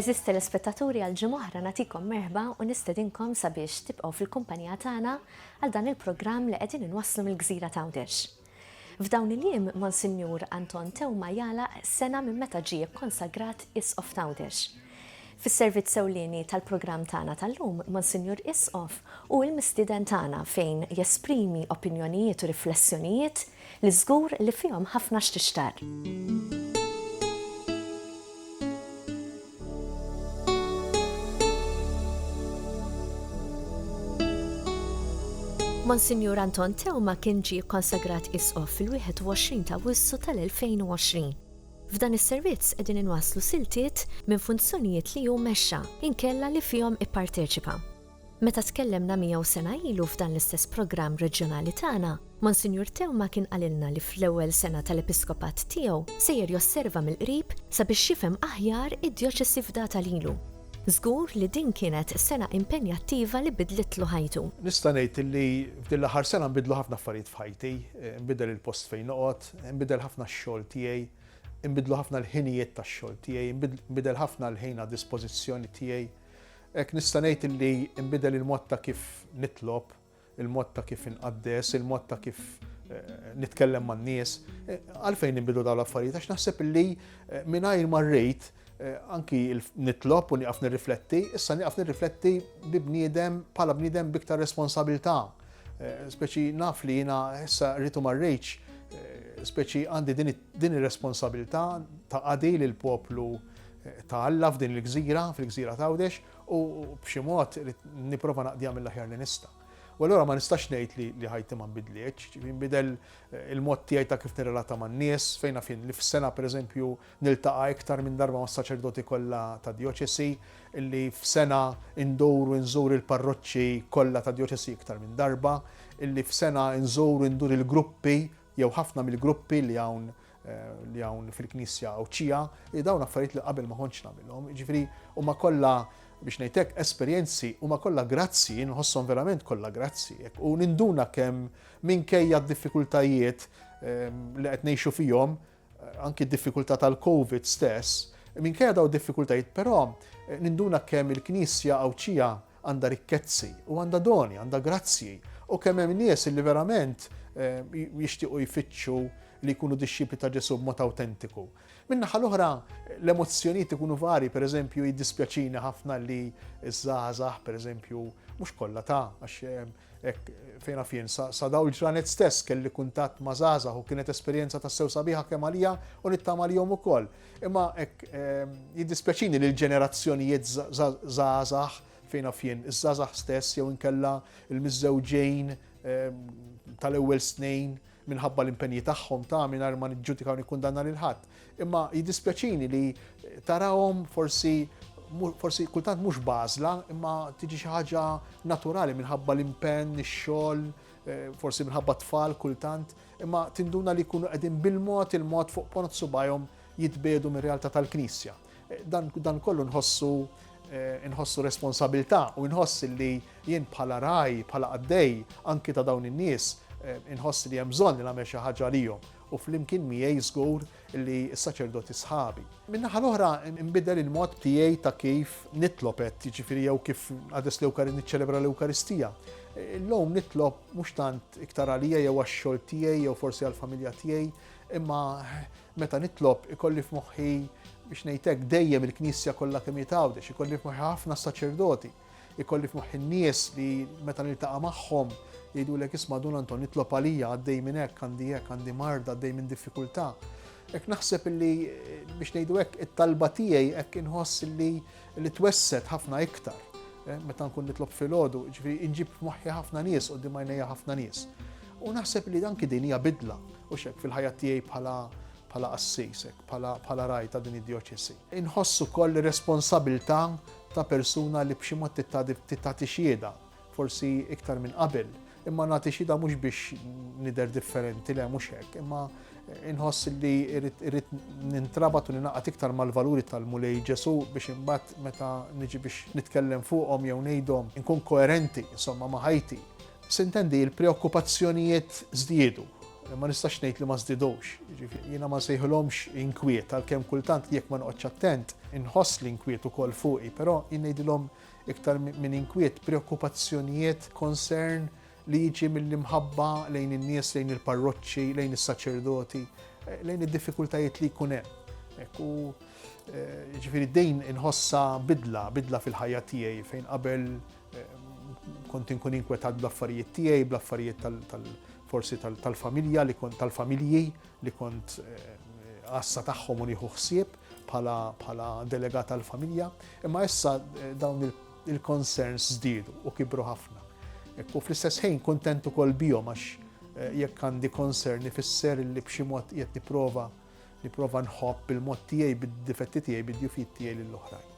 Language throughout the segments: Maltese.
Eżis telespettaturi għal ġimoħra natikom merħba u nistedinkom sabiex tibqgħu fil-kumpanija tagħna għal dan il-programm li qegħdin inwasslu mill-gżira ta' Għawdex. F'dawn il-jiem Monsinjur Anton Tewma jala sena minn meta ġie konsagrat Isqof ta' Għawdex. Fis-servizz ewlieni tal-programm tagħna tal-lum, Monsinjur Isqof u l-mistieden tagħna fejn jesprimi opinjonijiet u riflessjonijiet li żgur li fihom ħafna x'tixtarr. Monsinjur Anton Theuma kien ġie kkonsagrat Isqof fil-21 ta' Awwissu tal-2020. F'dan is-servizz qegħdin inwasslu siltiet minn funzjonijiet li hu mexxa inkella li fihom ipparteċipa. Meta tkellemna miegħu sena ilu f'dan l-istess programm reġjonali tagħna, Monsinjur Teuma kien qalilna li fl-ewwel sena tal-episkopat tiegħu sejjer josserva mill-qrib sabiex jifhem aħjar id-djoċesi fdata lilu. Żgur li din kienet sena impenjattiva li biddlitlu ħajtu. Nista' ngħid li f'din l-aħħar sena nbidlu ħafna affarijiet f'ħajti, inbidel il-post fejn noqgħod, inbidel ħafna x-xogħol tiegħi, inbidlu ħafna l-ħinijiet tax-xogħol tiegħi, inbidel ħafna l-ħin għad-dispożizzjoni tiegħi. Hekk nista' ngħid li nbidel il-mod ta' kif nitlob, il-mod ta' kif inqaddes, il-mod ta' kif eh, nitkellem man-nies. Eh, għalfejn nbidu dawn l-affarijiet għax naħseb li eh, mingħajr ma rrid anki nitlob u nieqaf nirrifletti, issa nieqaf nirrifletti bi bniedem bħala bniedem biktar responsabilità. Speċi naf li jiena issa rritu ma rridx, speċi għandi din ir-responsabilità ta' qadi lill poplu ta' Alla f'din il-gżira, fil-gżira ta' Għawdex, u b'xi mod nipprova naqdiha mill-aħjar li nista'. U allura ma nistax ngħid li li ħajti ma nbidlitx, ġifieri nbidel eh, il-mod tiegħi ta' kif nirrelata man-nies, fejn fin li f'sena pereżempju niltaqa' iktar minn darba mas-saċerdoti kollha ta' djoċesi, illi f'sena indur u nżur il-parroċċi kollha ta' djoċesi iktar minn darba, illi f'sena nżur indur il-gruppi jew ħafna mill-gruppi li hawn li hawn fil-Knisja Għawdxija, li dawn affarijiet li qabel ma kontx nagħmilhom. Jiġifieri huma kollha biex ngħidlek esperjenzi huma kollha grazzi, nħosshom verament kollha grazzi. U ninduna kemm minkejja d-diffikultajiet ehm, li qed ngħixu fihom, anki d-diffikultà tal-Covid stess, minkejja dawn id-diffikultajiet però ninduna kemm il-Knisja Għawdxija għandha rikkezzi u għandha doni, għandha grazzji u kemm hemm nies li verament eh, jixtiequ jfittxu li jkunu dixxipli ta' Ġesu b'mod awtentiku. Min-naħa l-oħra, l-emozzjonijiet ikunu vari, per eżempju, jiddispjaċini ħafna li ż-żgħażagħ, per eżempju, mhux kollha ta' għax eh, Hekk fejn naf jien, sa daw il-ġranet stess kelli kuntatt ma' żgħażagħ u kienet esperjenza tassew sabiħa kemm għalija u nittama li jom ukoll. Imma hekk ehm, jiddispjaċini li l-ġenerazzjonijiet żgħażagħ fejn naf jien, iż-żgħażagħ stess jew inkella l-miżżewġejn ehm, tal-ewwel snin minħabba l-impenji tagħhom ta' mingħajr ma niġġudika u nikkundanna lil ħadd. Imma jiddispjaċini li tarahom forsi forsi kultant mhux bażla, imma tiġi xi ħaġa naturali minħabba l-impenn, ix-xogħol, eh, forsi minħabba tfal kultant, imma tinduna li jkunu qegħdin bil-mod il-mod fuq ponot subajhom jitbedu mir-realtà tal-Knisja. Dan, dan kollu nħossu eh, nħossu responsabilità u nħoss li jien bħala raj, bħala qaddej, anki ta' dawn in-nies, eh, nħoss li hemm bżonn li nagħmel xi ħaġa għalihom u flimkien miegħi żgur li s-saċerdoti sħabi. Min-naħa l-oħra nbidel il-mod tiegħi ta' kif nitlob qed jiġifieri jew kif għades l-Ewkari niċċelebra l-Ewkaristija. Illum nitlob mhux tant iktar għalija jew għax-xogħol tiegħi jew forsi għall-familja tiegħi, imma Meta nitlob ikolli f'moħħi biex ngħid hekk dejjem il-Knisja kollha kemm hi t'Għawdex, ikolli f'moħħi ħafna saċerdoti, ikolli f'moħħi n-nies li meta niltaqa' magħhom jgħidulek isma' Dun Anton nitlob għalija għaddej minn hekk, għandi hekk, għandi marda, għaddej minn diffikultà. Hekk naħseb li biex ngħidu hekk it-talba tiegħi hekk inħoss li li twesset ħafna iktar eh, meta nkun nitlob filgħodu, ġifieri inġib f'moħħi ħafna nies u dimajnejja ħafna nies. U naħseb li dan din hija bidla. Hux hekk, fil-ħajja tiegħi bħala bħala qassis, bħala raj ta' din id-djoċesi. Inħoss ukoll ir-responsabilità ta' persuna li b'xi mod titati xieda, forsi iktar minn qabel, imma nagħti xieda mhux biex nidher differenti le mhux hekk, imma inħoss li irrid nintrabat u ninaqat iktar mal-valuri tal-Mulej Ġesu biex imbagħad meta niġi biex nitkellem fuqhom jew ngħidhom inkun koerenti insomma ma' ħajti Sintendi, il-preokkupazzjonijiet żdiedu. Ma nistax ngħid li ma żdiedux. Jiġifieri jiena ma nsejħilhomx inkwiet għalkemm kultant jekk ma noqgħodx attent inħoss l-inkwiet ukoll fuqi, però jien ngħidilhom iktar minn inkwiet, preokkupazzjonijiet, concern li jiġi mill-imħabba lejn in-nies, lejn il-parroċċi, lejn is-saċerdoti, lejn id-diffikultajiet li jkun hemm. Ekku, eh, ġifiri dejn inħossa bidla, bidla fil-ħajja tiegħi fejn qabel Kont inkun inkwetat bl-affarijiet tiegħi, bl-affarijiet tal-forsi tal-familja li kont tal-familji li kont għassa eh, tagħhom u nieħu ħsieb bħala delegat tal-familja. Imma issa eh, dawn il-concerns żdiedu u kibru ħafna. U fl-istess ħin kontentu kol bihom għax eh, jekk għandi concern ifisser li b'xi mod qed nipprova Nipprova nħobb bil-mod tiegħi, bid-difetti tiegħi, bid-djufijiet tiegħi lill-oħrajn.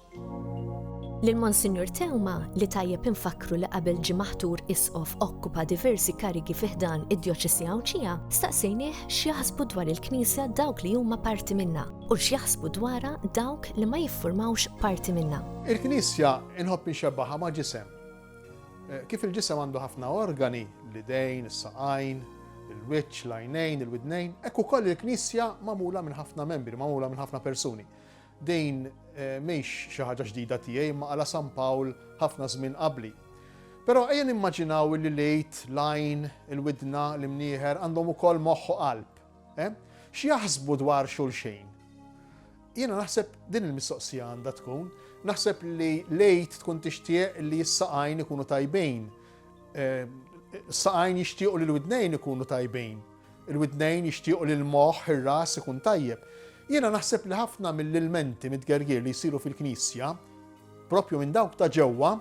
Lil Monsinjur Tewma li tajjeb infakkru li qabel ġie maħtur isqof okkupa diversi karigi fi ħdan id-Djoċesi Għawdxija, staqsejnieh x'jaħsbu dwar il-Knisja dawk li huma parti minna u x'jaħsbu dwarha dawk li ma jiffurmawx parti minna. Il-Knisja inħobb inxebbaha ma' ġisem. Kif il-ġisem għandu ħafna organi, l-idejn, is-saqajn, il-wiċċ, l-għajnejn, il-widnejn, hekk ukoll il-Knisja magħmula minn ħafna membri, magħmula minn ħafna persuni. Din eh, mhix xi ħaġa ġdida tiegħi imma għala San Pawl ħafna żmien qabli. Però ejja nimmaġinaw li lejt, lajn, il-widna, l-imnieħer għandhom ukoll moħħ u qalb. X'jaħsbu dwar xulxin? Jiena naħseb din il-mistoqsija għandha tkun. Naħseb li lejt tkun tixtieq li s-saqajn ikunu tajbin. Saqajn jixtiequ li l-widnejn ikunu tajbin. Il-widnejn jixtiequ li l-moħħ, ir-ras ikun tajjeb. Jiena naħseb li ħafna mill-ilmenti mit-tgergir li jsiru fil-Knisja, propju minn dawk ta' ġewwa,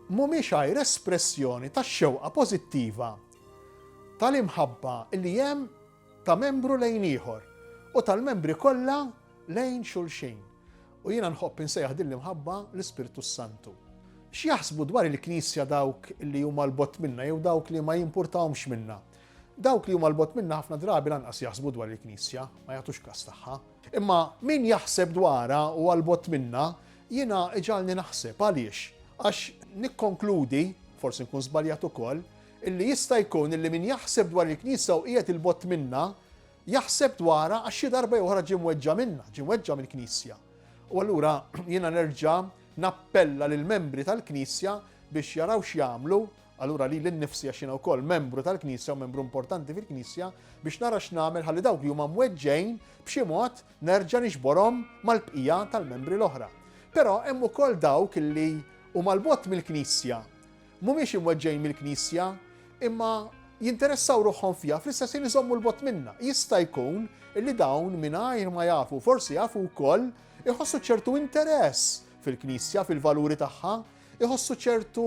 mhumiex għajr espressjoni tax-xewqa pożittiva tal-imħabba li hemm ta' membru lejn ieħor u tal-membri kollha lejn xulxin. U jiena nħobb insejjaħ din l-imħabba l-Ispirtu s-Santu. X'jaħsbu dwar il-Knisja dawk li huma l-bott minna jew dawk li ma jimpurtahomx minna? Dawk li huma l-bott minna ħafna drabi lanqas jaħsbu dwar il-Knisja, ma jagħtux kas tagħha. Imma min jaħseb dwarha u għal-bott minna, jiena iġalni naħseb għaliex? Għax nikkonkludi, forsi nkun żbaljat ukoll, illi jista' jkun illi min jaħseb dwar il-Knisja u qiegħed 'il bogħod minnha, jaħseb dwarha għax xi darba jew oħra ġie mweġġa' minnha, ġie mweġġa' mill-Knisja. U allura jiena nerġa' nappella lill-membri tal-Knisja biex jaraw x'jagħmlu, allura lili nnifsi għax jiena wkoll membru tal-Knisja u membru importanti fil-Knisja, biex nara x'nagħmel ħalli dawk li huma mweġġgħin b'xi mod nerġa' niġborhom mal-bqija tal-membri l-oħra. Però hemm ukoll dawk illi huma 'l bogħod mill-Knisja, Mhumiex imweġġgħin mill-Knisja, imma jinteressaw ruħhom fiha fl-istess ħin iżommu l-bogħod minnha. Jista' jkun li dawn mingħajr ma jafu, forsi jafu wkoll, iħossu ċertu interess fil-Knisja, fil-valuri tagħha, iħossu ċertu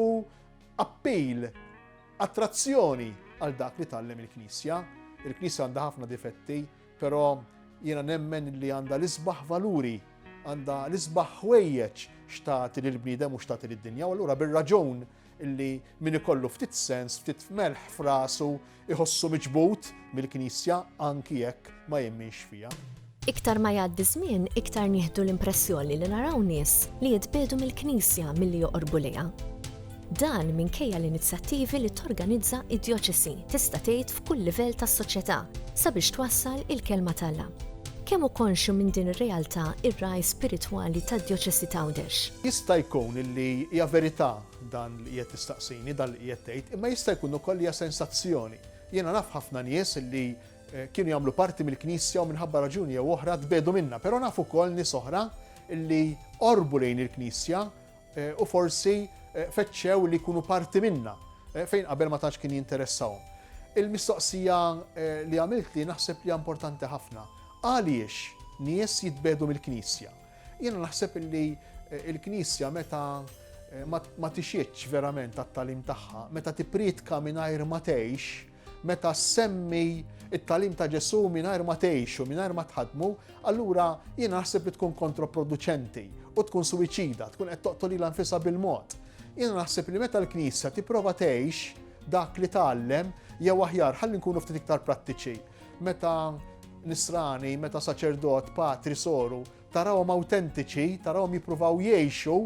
appil, attrazzjoni għal dak li tallem il-Knisja. Il-Knisja għandha ħafna difetti, Però jiena nemmen li għandha l-isbaħ valuri, għandha l-isbaħ ħwejjeġ x'tagħti lill-bniedem u x'tagħti lid-dinja u allura bir-raġun illi min ikollu ftit sens, ftit melħ f'rasu, iħossu miġbud mill-Knisja anki jekk ma jemminx fiha. Iktar ma jgħaddi żmien, iktar nieħdu l-impressjoni li naraw nies li jitbiegħdu mill-Knisja milli joqorbu lejha. Dan minkejja l-inizjattivi li torganizza d-djoċesi tista' tgħid f'kull livell tas-soċjetà sabiex twassal il-kelma t'Alla. Kemm hu konxju minn din ir-realtà r-ragħaj spiritwali tad-djoċesi t'Għawdex? Jista' jkun li hija verità dan li qiegħed tistaqsini, dan li qiegħed tgħid, imma jista' jkun ukoll li hija sensazzjoni. Jiena naf ħafna nies li kienu jagħmlu parti mill-Knisja u minħabba raġuni jew oħra tbiegħdu minnha, però naf ukoll nies oħra li qorbu lejn il-Knisja u forsi fettxew li jkunu parti minnha fejn qabel ma tantx kien jinteressahom. Il-mistoqsija li għamiltli naħseb li hija importanti ħafna. Għaliex nies jitbegħdu mill-Knisja? Jiena naħseb li l-Knisja meta ma tixitx verament għat-tagħlim tagħha, meta tippriedka mingħajr ma tgħix, Meta ssemmi it-talim ta' Ġesu mingħajr ma tgħixu, mingħajr ma tħadmu, allura jien naħseb li tkun kontroproduċenti u tkun suwiċida, tkun qed toqtol ilha nfisha bil-mod. Jien naħseb li meta l-Knisja tipprova tgħix dak li tgħallem jew aħjar ħalli nkunu ftit iktar prattiċi. Meta nisrani, meta saċerdot, patri, soru, Tarahom awtentiċi, tarahom jippruvaw jgħixu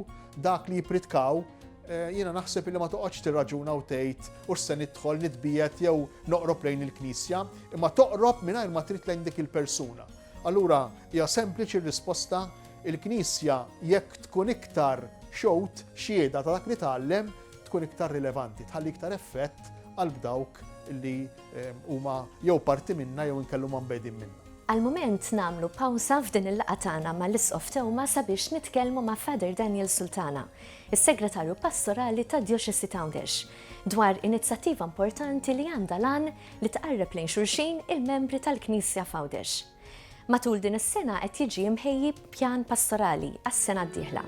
dak li jippritkaw, eh, jiena naħseb li ma toqgħodx tirraġuna u tgħid u se nidħol nitbiet jew noqrob lejn il-Knisja, imma toqrob mingħajr ma trid lejn dik il-persuna. Allura hija sempliċi r-risposta il-Knisja jekk tkun iktar xewt xieda ta' dak li tgħallem tkun iktar rilevanti, tħalli iktar effett għal dawk li ehm, huma jew parti minna jew inkellhom ambedin minna. Għall-mument nagħmlu pawża f'din il-laqgħa tagħna ma' l-Isqof Teuma sabiex nitkellmu ma' Father Daniel Sultana, is-Segretarju Pastorali tad-Djoċesi ta' Għawdex, dwar inizjattiva importanti li għandha l-għan li tqarreb lejn xulxin il-membri tal-Knisja f'Għawdex. Matul din is-sena qed jiġi mħejji Pjan Pastorali għas-sena d-dieħla.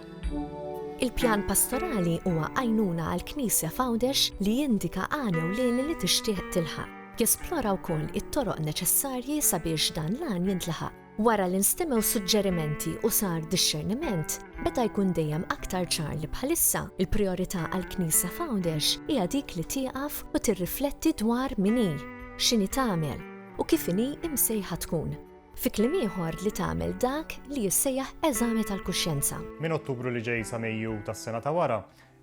Il-Pjan Pastorali huwa għajnuna għall-Knisja f'Għawdex li jindika għan ewlieni li tixtieq tilħaq. Jesplora wkoll it-toroq neċessarji sabiex dan l-għan jintlaħaq. Wara li nstemew suġġerimenti u sar dixxerniment, beda jkun dejjem aktar ċar li bħalissa l-prijorità għall-Knisja f'Għawdex hija dik li tieqaf u tirrifletti dwar min hi, x'inhi tagħmel, u kif inhi msejħa tkun. Fi kliem ieħor li tagħmel dak li jissejjaħ eżami tal-kuxjenza. Minn Ottubru li ġej sa Mejju tas-sena ta' wara,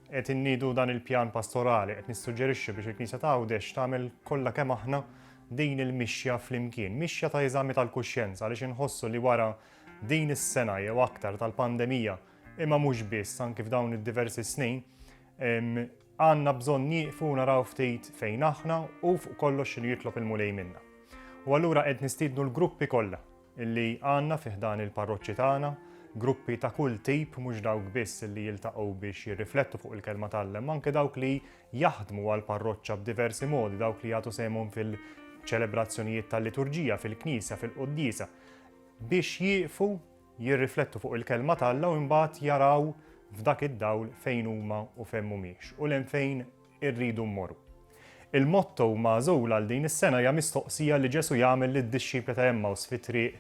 qed inniedu dan il-pjan pastorali, qed nissuġġerixxu biex il-Knisja ta' Għawdex tagħmel kollha kemm aħna din il-mixja flimkien, mixja ta' eżami tal-kuxjenza għaliex inħossu li wara din is-sena jew aktar tal-pandemija, imma mhux biss anki f'dawn id-diversi snin, Għandna bżonn nieqfu u naraw ftit fejn aħna u fuq kollox x'inhu jitlob il-Mulej minna. U allura qed nistiednu l-gruppi kollha li għandna fi ħdan il-parroċċi tagħna, gruppi ta' kull tip mhux dawk biss li jiltaqgħu biex jirriflettu fuq il-Kelma t'Alla imma anke dawk li jaħdmu għall-parroċċa b'diversi modi, dawk li jagħtu sehemhom fil-ċelebrazzjonijiet tal-liturġija, fil-knisja, fil-quddiesa, biex jieqfu jirriflettu fuq il-Kelma t'Alla u imbagħad jaraw f'dak id-dawl fejn huma u fejn mhumiex u 'l hemm fejn irridu mmorru. Il-motto magħżul għal din is-sena hija mistoqsija li Ġesù jagħmel lid-dixxipli ta' Għemmaws fit-triq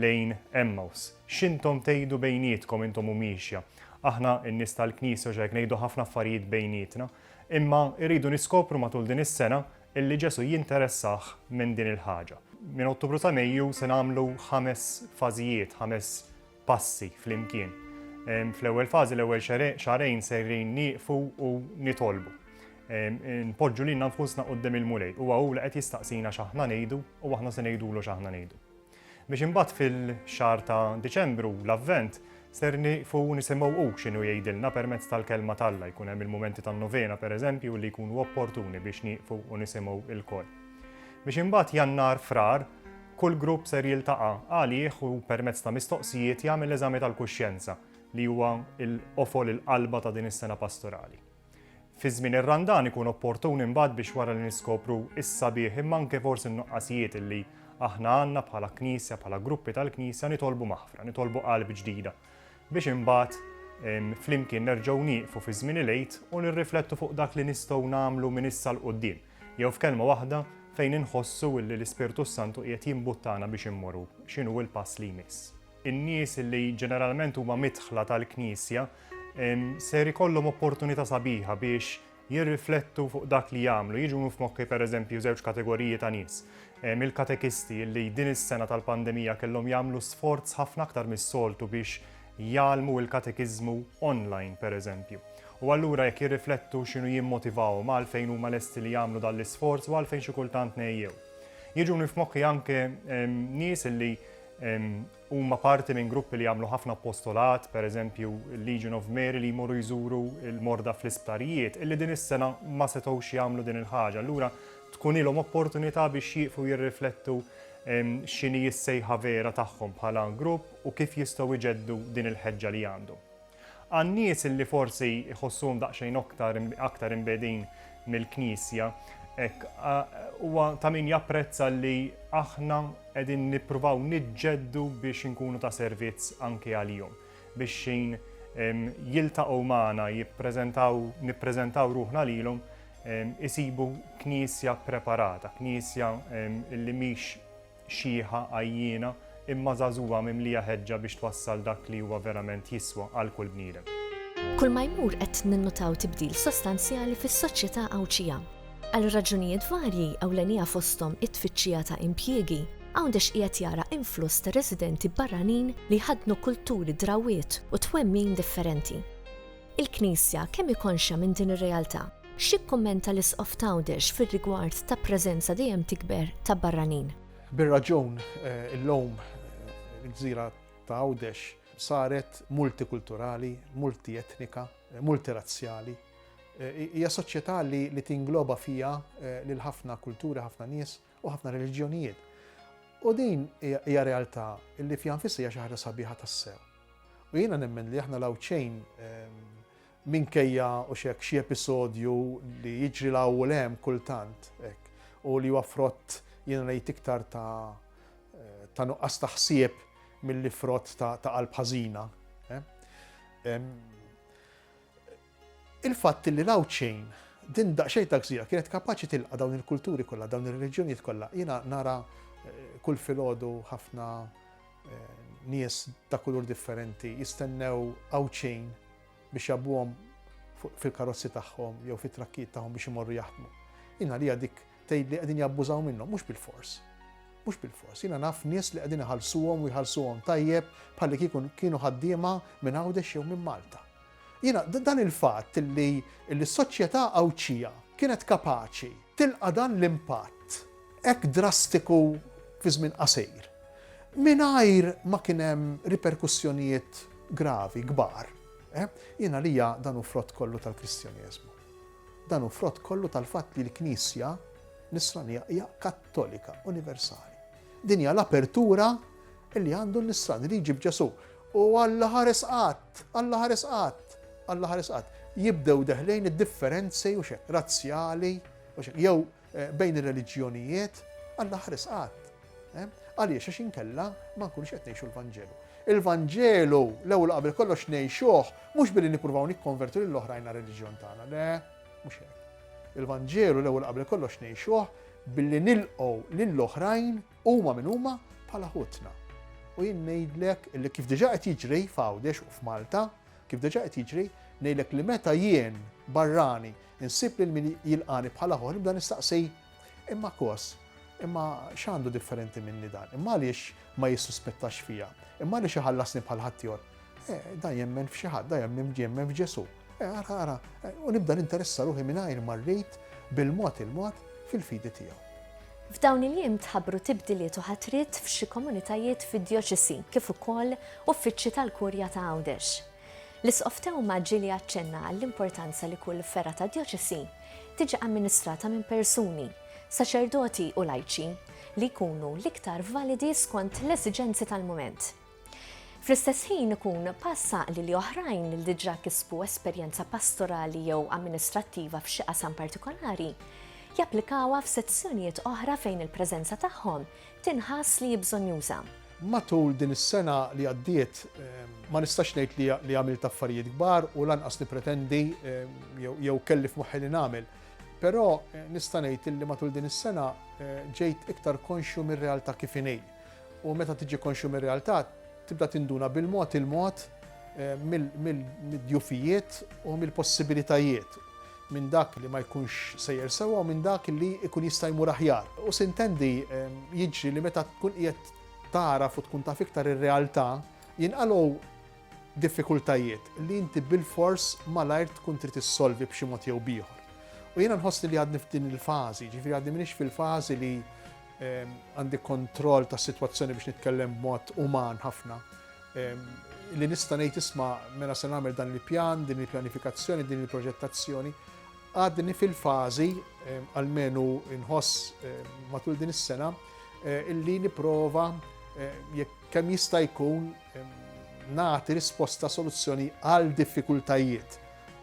lejn Għemmaws, X'intom tgħidu bejnietkom intom u miexja? Aħna, in-nies tal-Knisja, u x'hekk, ngħidu ħafna affarijiet bejnietna. Imma rridu niskopru matul din is-sena Illi Ġesù jinteressah minn din il-ħaġa. Minn Ottubru sa Mejju se nagħmlu ħames fażijiet, ħames passi flimkien. Fl-ewwel fażi, l-ewwel xahrejn sejrin nieqfu u nitolbu. Npoġġu lilna nfusna quddiem il-Mulej. Huwa hu li qed jistaqsina x'aħna ngħidu u aħna se ngħidulu x'aħna ngħidu. Biex imbagħad fil-xahar ta' Diċembru, l-Avvent, ser nieqfu nisimgħu hu x'inhu jgħidilna permezz tal-Kelma t'Alla, jkun hemm il-mumenti tan-novena pereżempju li jkunu opportuni biex nieqfu u nisimgħu ilkoll. Biex imbagħad Jannar, Frar, kull grupp ser jiltaqa' għalih u permezz ta' mistoqsijiet jagħmel eżami tal-kuxjenza li huwa l-qofol il-qalba ta' din is-sena pastorali. Fi żmien ir-Randan ikun opportun imbagħad biex wara li niskopru s-sabiħ imma anke forsi n-nuqqasijiet illi aħna għandna bħala Knisja, bħala gruppi tal-Knisja nitolbu maħfra, nitolbu qalb ġdida biex imbagħad flimkien nerġgħu nieqfu fi żmien il-għid u nirriflettu fuq dak li nistgħu nagħmlu minn issa l quddiem jew f'kelma waħda fejn inħossu illi l-Ispirtu s-Santu qiegħed jimbuttana biex immorru x'inhu l-pass li jmiss. In-nies li ġeneralment huma midħla tal-Knisja ser ikollhom opportunità sabiħa biex jirriflettu fuq dak li jagħmlu. Jiġu f'moħħi pereżempju żewġ kategoriji ta' nies. Il-katekisti li din is-sena tal-pandemija kellhom jagħmlu sforz ħafna aktar mis-soltu biex jgħallmu l-katekiżmu online pereżempju. U allura jekk jirriflettu x'inhu jimmotivahom għalfejn huma lesti li jagħmlu dan l-isforz u għalfejn xi kultant ngħejjew. Jiġuni f'moħħi anke nies li Huma parti minn gruppi li jagħmlu ħafna appostolat, pereżempju l-Legion of Mary li jmorru jżuru l-morda fl-isptarijiet, illi din is-sena ma setgħux jagħmlu din il-ħaġa. Allura tkun ilhom opportunità biex jieqfu jirriflettu x'inhi s-sejħa vera tagħhom bħala grupp u kif jistgħu jġeddu din il-ħeġġa li għandhom. Għan-nies li forsi jħossuhom daqsxejn aktar aktar imbegħdin mill-Knisja, hekk, huwa ta' min japprezza li aħna qegħdin nippruvaw niġġeddu biex inkunu ta' servizz anki għalihom, biex xejn jiltaqgħu magħna, jippreżentaw, nippreżentaw ruħna lilhom, isibu Knisja ppreparata, Knisja li mhix xiħa, għajjiena, imma żagħżugħa mimlija ħeġġa biex twassal dak li huwa verament jiswa għal kull bniedem. Kulma jmur qed ninnutaw tibdil sostanzjali fis-soċjetà Għawdxija. Għal raġunijiet varji, ewlenija fosthom it-tfittxija ta' impjiegi, Għawdex qiegħed jara influss ta' residenti barranin li jħaddnu kulturi, drawwiet u twemmin differenti. Il-Knisja kemm hi konxja minn din ir-realtà? X'jikkummenta l-Isqof t'Għawdex fir-rigward ta' preżenza dejjem tikber ta' barranin? Bir-raġun, illum il-gżira ta' Għawdex saret multikulturali, multietnika, multirazzjali. Hija soċjetà li tingloba fiha lil ħafna kulturi, ħafna nies u ħafna reliġjonijiet. U din hija realtà li fiha nfisha hija xi ħaġa sabiħa tassew. U jiena nemmen li aħna l-Għawdxin Minkejja u x'hekk xi episodju li jiġri 'l hawn u 'l hemm kultant hekk u li huwa frott jien rajt iktar ta' ta' nuqqas ta' ħsieb milli frott ta' ta' qalb ħażina. Il-fatt li 'l hawn xejn din daqsxejn ta' gżira kienet kapaċi tilqa' dawn il-kulturi kollha, dawn ir-reliġjonijiet kollha, jiena nara kull filgħodu ħafna nies ta' kulur differenti jistennew hawn xejn biex jgħabbuhom fil-karozzi tagħhom jew fit-trakkijiet tagħhom biex imorru jaħdmu. Jien għalija dik tgħid li qegħdin jabbużaw minnhom, mhux bil-fors. Mhux bil-fors. Jiena naf nies li qegħdin iħallsuhom u jħallsuhom tajjeb bħalli kieku kienu ħaddiema minn Għawdex jew minn Malta. Jiena dan il-fatt li l-soċjetà Għawdxija kienet kapaċi tilqa' dan l-impatt hekk drastiku fi żmien qasir mingħajr ma kien hemm riperkussjonijiet gravi, kbar. Jien għalija dan hu frott kollu tal-Kristjaneżmu. Dan hu frott kollu tal-fatt li l-Knisja Nisranija hija kattolika, universali. Din hija l-apertura li għandu n-nisrani li jġib Ġesù. U Alla ħares qatt, Alla ħares qatt, Alla ħares qatt. Jibdew deħlejn id-differenzi u x'hekk, razzjali u x'hekk, jew eh, bejn ir-reliġjonijiet, Alla ħares qatt. Eh? Għaliex għax inkella ma nkunx qed ngħixu l-Vanġelu. Il-Vanġelu l-ewwel qabel kollox ngħixuh mhux billi nippruvaw nikkonvertu lil oħrajn reliġjon tagħna, le, mhux hekk. Il-Vanġelu l-ewwel qabel kollox ngħixuh Billi nilqgħu lil oħrajn huma min huma bħala ħutna. U jien ngħidlek li kif diġà qed jiġri f'Għawdex u f'Malta, kif diġà qed jiġri, ngħidlek li meta jien barrani insib lil min jilqani bħala ħor nibda nistaqsi imma kos imma x'għandu differenti minni dan, imma għaliex ma jissuspettax fija, imma għaliex iħallasni bħal ħaddieħor. Eh, da jemmen f'xi ħadd, da jemmen f'Ġesu. Eh, ara, ara, eh, u nibda ninteressa ruħi mingħajr ma rrid bil-mod il-mod fil-fidi tiegħu. F'dawn il-jiem tħabbru tibdiliet u ħatrit f'xi komunitajiet fid-djoċesi kif ukoll uffiċċji tal-Kurja ta' Għawdex. L-isqof Tewma ġieli aċċenna għall-importanza li kull ferra ta' djoċesi tiġi amministrata minn persuni, saċerdoti u lajċi li jkunu l-iktar validi skont l-esiġenzi tal-mument. Fl-istess ħin ikun pass għaqli li oħrajn li diġà kisbu esperjenza pastorali jew amministrattiva f'xi qasam partikolari japplikawha f'sezzjonijiet oħra fejn il-preżenza tagħhom tinħass li bżonjuża. Matul din is-sena li għaddiet ehm, ma nistax ngħid li għamilt affarijiet kbar u lanqas nippretendi ehm, jew kelli f'moħħi li nagħmel. Però eh, nista' ngħid li matul din is-sena eh, ġejt iktar konxju mir-realtà kif inejn U meta tiġi konxju mir-realtà, tibda tinduna bil-mod il-mod mid-djufijiet u mill-possibilitajiet, minn dak li ma jkunx sejjer sewwa u minn dak li jkun jista' jmur aħjar. U sintendi, jiġri li meta tkun qiegħed tagħraf u tkun taf iktar ir-realtà, jinqalgħu diffikultajiet li inti bilfors malajr tkun trid issolvi b'xi mod jew b'ieħor. U jiena nħossni li għadni f'din il-fażi, jiġifieri għadni m'iniex fil-fażi li Għandi kontroll ta' situazzjoni biex nitkellem b'mod uman ħafna. Li nista' ngħid isma' mela se nagħmel dan il-pjan, din il-pjanifikazzjoni, din il-proġettazzjoni. Għadni fil-fażi, għalmenu nħoss matul din is-sena, eh, illi niprova eh, jekk kemm jista' jkun nagħti risposta soluzzjoni għal diffikultajiet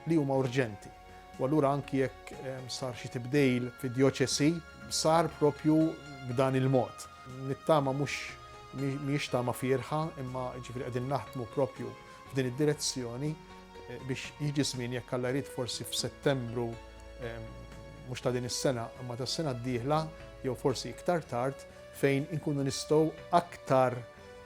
li huma urġenti. U allura anki jekk sar xi tibdejl fid-djoċesi, sar propju b'dan il-mod. Nittama mhux mhix tama fierħa, imma ġifieri qegħdin naħdmu propju f'din id-direzzjoni eh, biex jiġi żmien jekk alla jrid forsi f'Settembru mhux ta' din is-sena, imma tas-sena d-dieħla jew forsi iktar tard fejn inkunu nistgħu aktar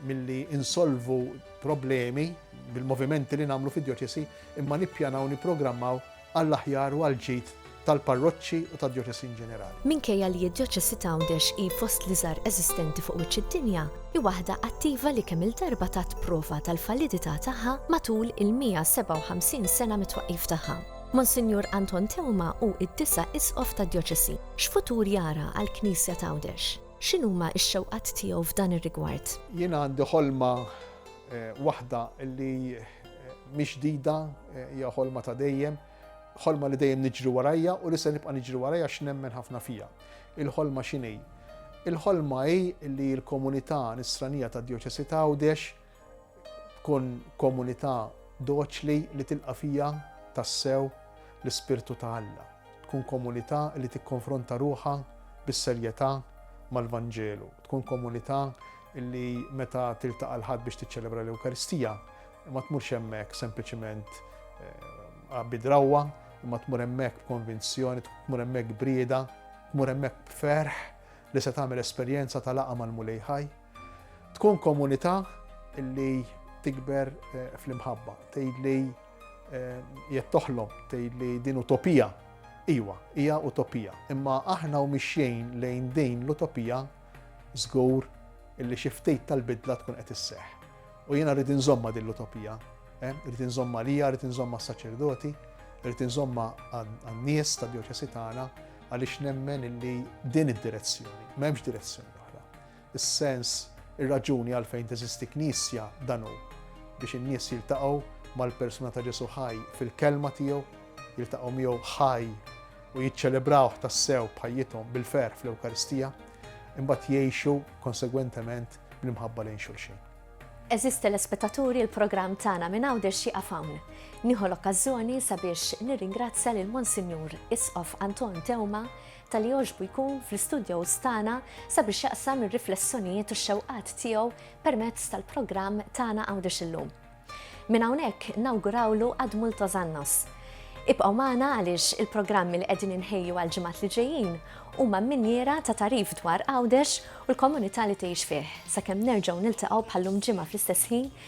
milli insolvu problemi bil-movimenti li nagħmlu fid-djoċesi imma nippjanaw u nipprogrammaw għall-aħjar u għall-ġid tal-parroċċi u tad-djoċesi inġenerali. Minkejja li d-Djoċesi ta' Għawdex hi fost l-iżgħar eżistenti fuq wiċċ id-dinja, hi waħda attiva li kemm-il darba tat prova tal-validità tagħha matul il-157 sena mit-twaqqif tagħha. Monsinjur Anton Teuma hu d-disa' Isqof tad-Djoċesi. X'futur jara għall-Knisja t'Għawdex? X'inhuma x-xewqat tiegħu f'dan ir-rigward? Jiena għandi ħolma waħda li mhix ġdida, hija ħolma ta' dejjem, ħolma li dejjem niġri warajja u li se nibqa' niġri warajja għax nemmen ħafna fija. Il-ħolma x'inhi? Il-ħolma hi li l-komunità Nisranija tad-Djoċesi ta' Għawdex tkun komunità doċli li tilqa' fiha tassew l-ispirtu ta' Alla, tkun komunità li tikkonfronta ruħha bis-serjetà mal-Vanġelu, tkun komunità li meta tiltaqa' l-Ħadd biex tiċċelebra l-Ewkaristija ma tmurx hemmhekk sempliċiment bi drawwa, imma tmur hemmhekk b'konvinzjoni, tmur hemmhekk b'rieda, tmur hemmhekk b'ferħ li se tagħmel esperjenza ta' laqgħa mal-Mulej ħaj. Tkun komunità li tikber eh, fl-imħabba, tgħid li eh, jett toħlom, tgħid li din utopija. Iwa, hija utopija. Imma aħna u mixjejn lejn din l-utopija żgur illi xi ftit tal-bidla tkun qed isseħ. U jiena rrid inżomma din l-utopija, eh, rrid inżomma lija, rrid inżomma s-saċerdoti, rrid inżomma għan-nies tad-djoċesi tagħna għaliex nemmen illi din id-direzzjoni, m'hemmx direzzjoni Is-sens, ir-raġuni għalfejn teżisti Knisja, dan hu, biex in-nies jiltaqgħu mal-persuna ta' Ġesù ħaj fil-Kelma tiegħu, jiltaqgħu miegħu ħaj u jiċċelebrawh tassew b'ħajjithom bil-ferħ fl-Ewkaristija, imbagħad jgħixu konsegwentement bl-imħabba lejn xulxin. Għeżież telespettaturi, il-programm tagħna minn hawn dex jieqaf hawn. Nieħu l-okkażjoni sabiex nirringrazzja lil Monsinjur Isqof Anton Tewma Ta' li jogħġbu jkun fl-istudjows tagħna sabiex jaqsam ir-riflessjonijiet u x-xewqat tiegħu permezz tal-programm Tagħna Għawdex Illum. Minn hawnhekk nawgurawlu Ad Multos Annos. Ibqgħu magħna għaliex il-programmi li qegħdin inħejju għall-ġimgħat li ġejjin huma minniera ta' tagħrif dwar Għawdex u l-komunità li tgħix fih, sakemm nerġgħu niltaqgħu bħal-lum ġimgħa fl-istess ħin